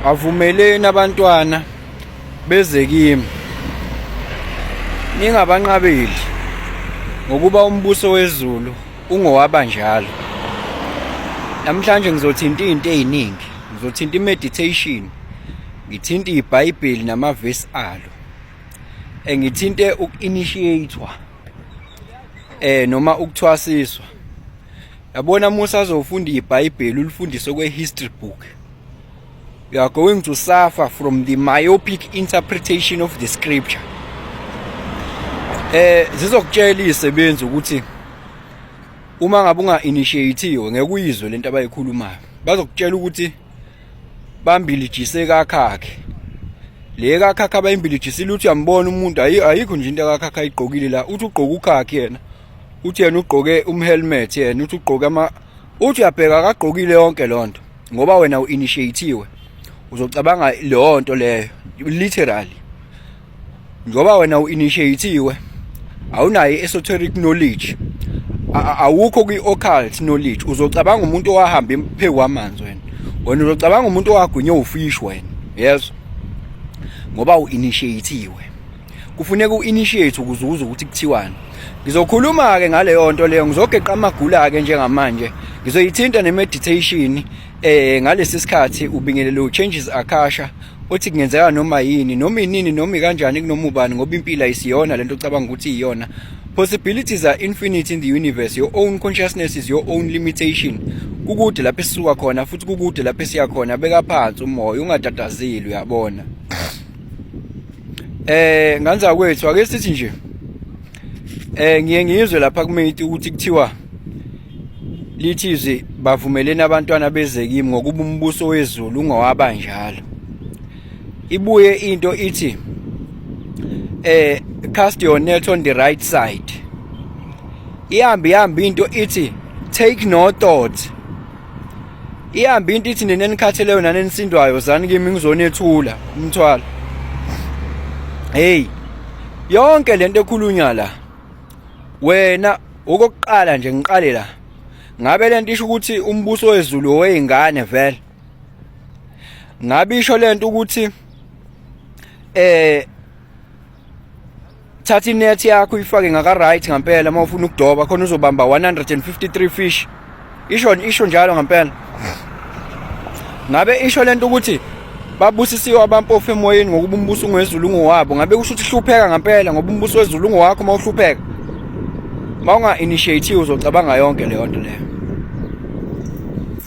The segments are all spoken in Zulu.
avumeleni abantwana beze kimi ningabanqabeli ngokuba umbuso wezulu ungowaba njalo namhlanje ngizothinta izinto eziningi ngizothinta imeditation ngithinta ibhayibheli namavesi alo engithinte uku-initiator eh noma ukuthwasiswa yabona musa azofunda ibhayibheli ulifundise kwe-history book you are going to suffer from the myopic interpretation of the scripture eh zizokutshela izisebenzi ukuthi uma ngabe unga initiatiwe ngeke uyizwe lento abayikhulumayo bazokutshela ukuthi bambilijise kakhakhe le kakhakha abayimbilijisile uthi uyambona umuntu ayikho nje into kakhakha ayigqokile la uthi ugqoka ukhakhe yena uthi yena ugqoke umhelmet yena uthi ugqoke ama uthi uyabheka akagqokile yonke lonto ngoba wena uinitiatiwe uzocabanga leyo nto leyo literally ngoba wena uinitiatiwe awunayo esoteric knowledge awukho kwi-occult knowledge uzocabanga umuntu owahamba phezu kwamanzi wena wena uzocabanga umuntu owagwinywa ufish wena yes ngoba u-initiatiwe kufuneka u-initiate ukuze uze ukuthi kuthiwani ngizokhuluma-ke ngaleyo nto leyo ngizogeqa amagula-ke njengamanje ngizoyithinta ne-meditation eh ngalesi sikhathi ubingelele u-changes akasha othi kungenzeka noma yini noma inini noma kanjani kunoma ubani ngoba impilo ayisiyona lento ucabanga ukuthi iyona possibilities are infinite in the universe your own consciousness is your own limitation kukude lapho esisuka khona futhi kukude lapho esiya khona beka phansi umoya ungatatazeli uyabona eh ngane zakwethu ake sithi nje eh ngiye ngizwe lapha kumethi ukuthi kuthiwa lithi izwi bavumelene abantwana beze kimi ngokuba umbuso wezulu ungowaba njalo ibuye into ithi eh cast your net on the right side ihambi ihambi into ithi take no thought ihambe into ithi nina enikhatheleyo nani enisindwayo zani kimi ngizonethula umthwalo hey yonke lento ekhulunywa la wena okokuqala nje ngiqale la ngabe lento isho ukuthi umbuso wezulu oweyingane vele ngabe isho lento ukuthi eh thatha inet yakho uyifake ngaka right ngempela uma ufuna ukudoba khona uzobamba 153 fish isho isho njalo ngempela ngabe isho lento ukuthi babusisiwe abampofu emoyeni ngokuba umbuso ungwezulu ngowabo ngabe kusho ukuthi hlupheka ngempela ngoba umbuso wezulu ngowakho uma uhlupheka uma unga-initiative uzocabanga yonke leyo nto leyo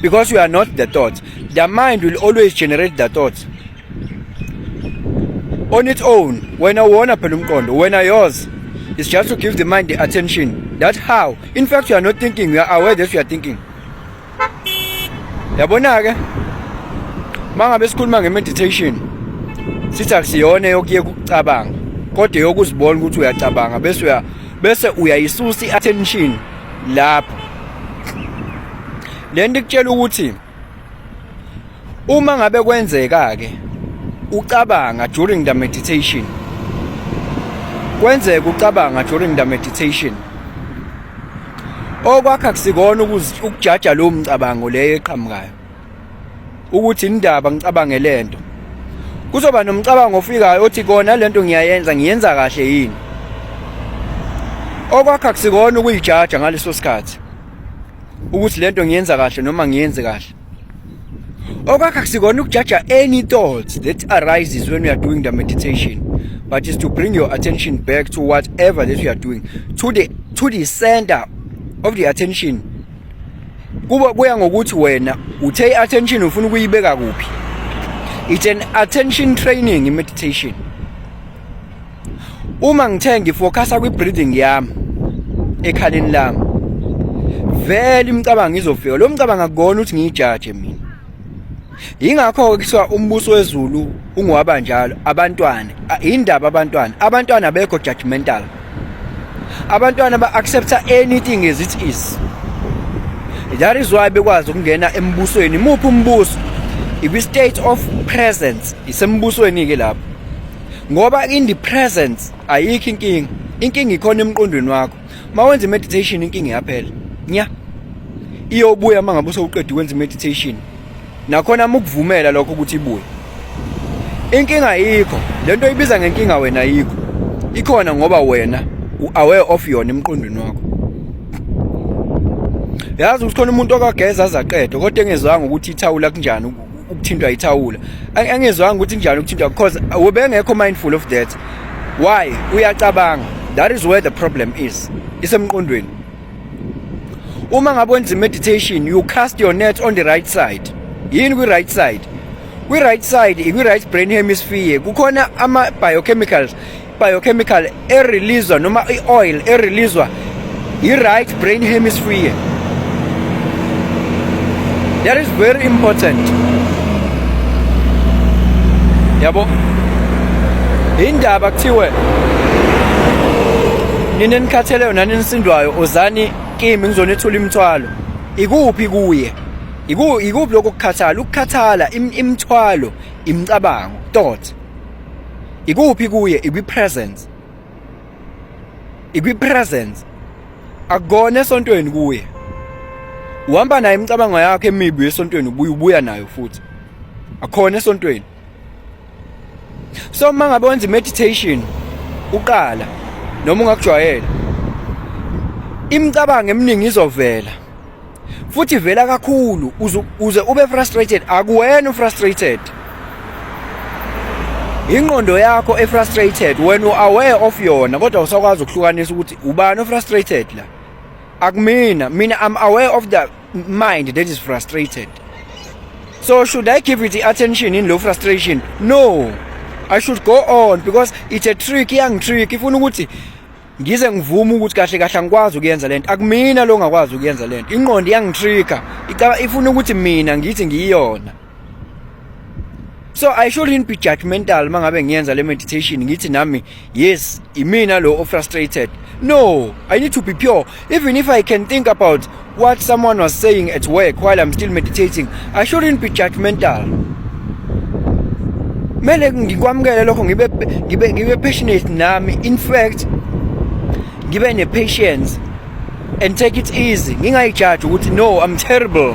Because you are not the thought. The mind will always generate the thoughts. On its own, when I wanna pelumkondo, when I yours, it's just to give the mind the attention. That's how. In fact, you are not thinking, you are aware that you are thinking. Yabona ke? Mangabe sikhuluma ngemeditation, sithi akusiyona yokuye kucabanga, kodwa yokuzibona ukuthi uyacabanga bese uya bese uyayisusa i-attention lapho lento ikutshela ukuthi uma ngabe kwenzeka ke ucabanga during the meditation kwenzeka ucabanga during the meditation okwakha kusikona ukujaja lo mcabango leyo eqhamukayo ukuthi indaba ngicabange lento kuzoba nomcabango ofikayo othi kona lento ngiyayenza ngiyenza kahle yini okwakha kusikona ukuyijaja ngaleso sikhathi ukuthi lento ngiyenza kahle noma ngiyenze kahle okwakha kusikona ukujaja any thoughts that arises when we are doing the meditation but is to bring your attention back to whatever that you are doing to the to the center of the attention kuba kuya ngokuthi wena uthe i-attention ufuna ukuyibeka kuphi it's an attention training i-meditation uma ngithe ngifocasa kwi-breathing yami ekhaleni lami vele imicabango izofika lo mcabango akukona ukuthi ngiyijaje mina Yingakho kuthiwa umbuso wezulu ungowaba njalo abantwana indaba abantwana abantwana abekho judgmental abantwana ba accepta anything as it is that is why bekwazi ukungena embusweni muphi umbuso ikwi state of presence isembusweni ke lapho ngoba in the presence ayikho inkinga inkinga ikhona emqondweni wakho mawenza meditation inkinga iyaphela nya iyobuya mangabe usewuqedwe kwenza meditation nakhona mukuvumela lokho ukuthi ibuye inkinga yikho lento oyibiza ngenkinga wena yikho ikhona ngoba wena u-aware of yona emqondweni wakho yazi ukuthi khona umuntu okageza azaqede kodwa engezwanga ukuthi ithawula kunjani ukuthintwa ithawula engezwanga ukuthi kunjani ukuthintwa because ubengekho mindful of that why uyacabanga that is where the problem is isemqondweni uma ngabe wenza meditation you cast your net on the right side yini kwi right side kwi right side ikwi right brain hemisphere kukhona ama biochemicals biochemical e release noma i oil e release i right brain hemisphere that is very important yabo indaba kuthiwe nina enikhatheleyo nani nisindwayo ozani kimi ngizonethula imithwalo ikuphi kuye Iku ikuphi lokho kukhathala ukukhathala imithwalo imicabango thought ikuphi kuye ikwi presence ikwi presence akugona esontweni kuye uhamba naye imicabango yakhe emibi esontweni ubuya ubuya nayo futhi akhona esontweni so uma ngabe wenza meditation uqala noma ungakujwayela imicabango eminingi izovela futhi vela kakhulu uze ube frustrated akuwena ufrustrated ingqondo yakho efrustrated wena uaware of yona kodwa usakwazi ukuhlukanisa ukuthi ubani ofrustrated la Akumina, mina I'm aware of the mind that is frustrated. So should I give it attention in low frustration? No. I should go on because it's a trick young trick ifuna ukuthi ngize ngivume ukuthi kahle kahle angikwazi ukuyenza lento akumina lo ngakwazi ukuyenza lento inqondo iyangitrigger ifuna ukuthi mina ngithi ngiyiyona so i shouldn't be judgmental mangabe ngiyenza le meditation ngithi nami yes imina lo frustrated no i need to be pure even if i can think about what someone was saying at work while i'm still meditating i shouldn't be judgmental mele ngikwamukele lokho ngibe ngibe ngibe passionate nami in fact ngibe ne patience and take it easy ngingayijaji ukuthi no i'm terrible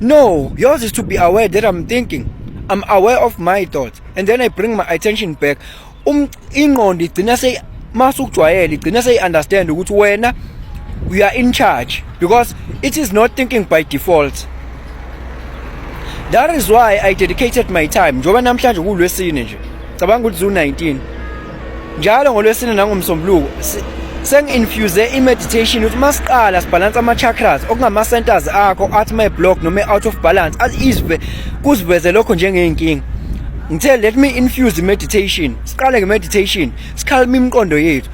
No, yours is to be aware that I'm thinking. I'm aware of my thoughts and then I bring my attention back. Um ingqondo igcina sey mase ukujwayela igcina sey understand ukuthi wena you are in charge because it is not thinking by default. That is why I dedicated my time njengoba namhlanje kulwesine nje. Cabanga ukuthi zu 19. njalo ngolwesine nangomsombuluko sengi-infuze i-meditation ukuthi uma siqala sibhalanse ama-chakras okungama-centers akho athi my block noma i-out of balance izwe kuziveze lokho njengey'nkinga ngithe let me infuse i-meditation siqale nge-meditation sikhalime imiqondo yethu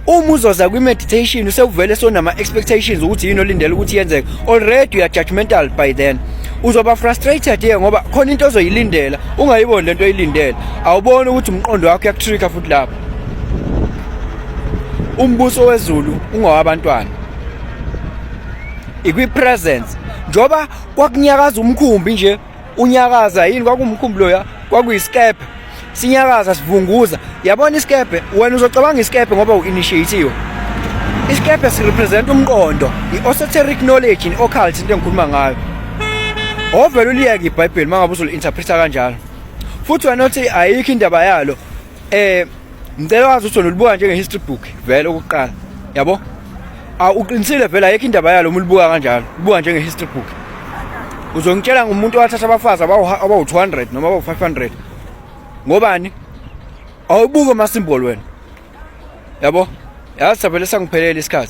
uma uzoza kwi-meditation usewuvele sonama-expectations ukuthi yini olindele ukuthi yenzeke already uya judgmental by then uzoba frustrated ye ngoba khona into ozoyilindela ungayiboni lento oyilindele awuboni ukuthi umqondo wakho uyakutrika futhi lapho umbuso wezulu ungowabantwana ikwi-presence njengoba kwakunyakaza umkhumbi nje unyakaza yini kwakumkhumbulo ya kwakuyisikebhe sinyakaza sivunguza yabona isikebhe wena uzocabanga isikebhe ngoba u-initiatiwe isikebhe sirepresenta umqondo i-osoteric knowledge ne-occult into engikhuluma ngayo ovele uliyeke ibhayibheli uma ngabe uzoli-interpreta kanjalo futhi wena uthi ayikho indaba yalo eh ngicela wazi ukuthi ulibuka njenge history book vele ukuqala yabo awuqinisile vele ayekho indaba yalo uma ulibuka kanjalo ubuka njenge history book uzongitshela ngumuntu owathatha abafazi abawu-200 noma abawu-500 ngobani awubuke ama-symbol wena yabo yazi savele sangiphelele isikhathi